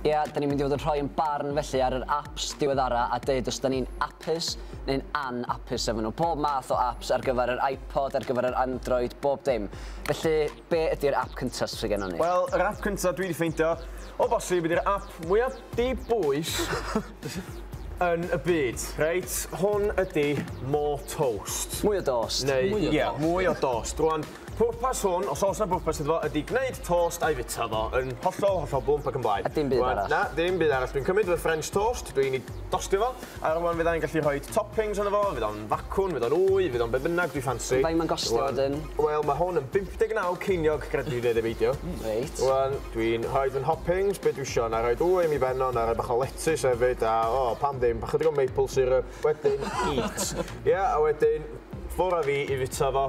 Ie, da ni'n mynd i fod yn rhoi yn barn felly ar yr apps diweddara a dweud os da ni'n apus neu'n an-apus efo nhw. Pob math o apps ar gyfer yr iPod, ar gyfer yr Android, bob dim. Felly, be ydy'r app cyntaf sydd gen ni? Wel, yr app cyntaf dwi wedi ffeindio, o bosib, ydy'r app mwyaf dibwys yn y byd, reit? Hwn ydy More Toast. Mwy o dost. Neu, mwy o dost. Rwan, Pwrpas hwn, os oes 'na bwrpas iddo fo, ydi gwneud tost a'i fita fo yn hollol, hollol blwmp ac yn blaen. A dim byd arall? Na, dim byd arall. Dwi'n cymryd fy French toast, dwi'n ei dostio fo, a rwan fydda i'n gallu rhoi toppings arno fo, fydd o'n facwn, fydd o'n wy, fydd o'n be' bynnag dwi ffansi. Faint ma'n gostio wedyn? Wel, ma' hwn yn 59 ceiniog, gred fi neu beidio. Reit. Rwan, dwi'n rhoid fy nhoppings, be' dwi isio, 'na i roid wy am 'i ben o, 'na i roi bach o letys hefyd, a o, pam ddim, bach chydig o maple syrup, wedyn eat. Ia, a wedyn, ffwr' â fi i fita fo.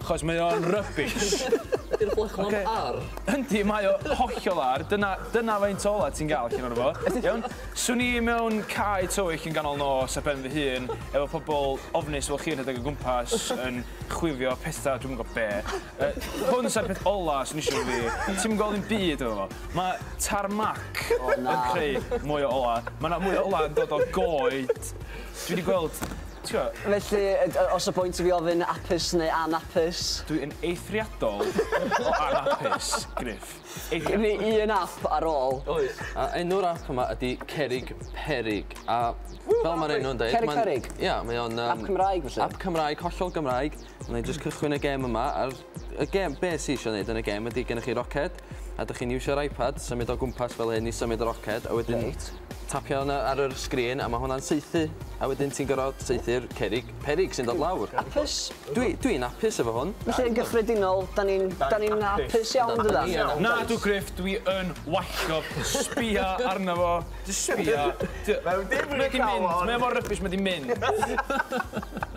Achos mae o'n rubbish. Ydy'r brechlad yn ar? Yndi, mae o hollol ar. Dyna, dyna faint o olau ti'n gael allan ohono fo. Iawn? Swn i mewn cae tywyll yn ganol nos ar ben fy hun, efo pobl ofnus fel chi yn rhedeg o gwmpas, yn chwifio pethau, dwi'm yn gwybod be. Yy, hwn sa'r peth ola swn i isio efo fi. Ti'm yn gweld dim byd efo fo. Mae tarmac yn creu mwy o olau. Mae 'na mwy o olau yn dod o goed. Dwi 'di gweld Tjo. Felly, os o point i fi ofyn apus neu anapus? Dwi yn eithriadol o anapus, Griff. Gen i un ap ar ôl. Oes. A enw'r ap yma ydi Cerrig Perig. A fel ma'r enw'n deud... Cerrig Perig? Ia, mae o'n yym... Ap Cymraeg felly? Ap Cymraeg, hollol Gymraeg. Wna i jyst cychwyn y gêm yma, a'r y gêm, be sy eisiau gwneud yn y gêm ydy gennych chi roced, a dych chi'n iwsio'r iPad, symud o gwmpas fel hyn i symud y roced, a wedyn right. tapio hwnna ar yr sgrin, a mae hwnna'n saethu, a wedyn ti'n gorfod saethu'r cerig, perig sy'n dod lawr. Apus? Dwi'n dwi apus efo hwn. Felly yn gyffredinol, da ni'n da ni apus iawn dydan? Na, dw Griff, dwi yn wallgo, sbia arno fo, jyst sbia. Mae wedi mynd, mae mor rybys, mae wedi mynd.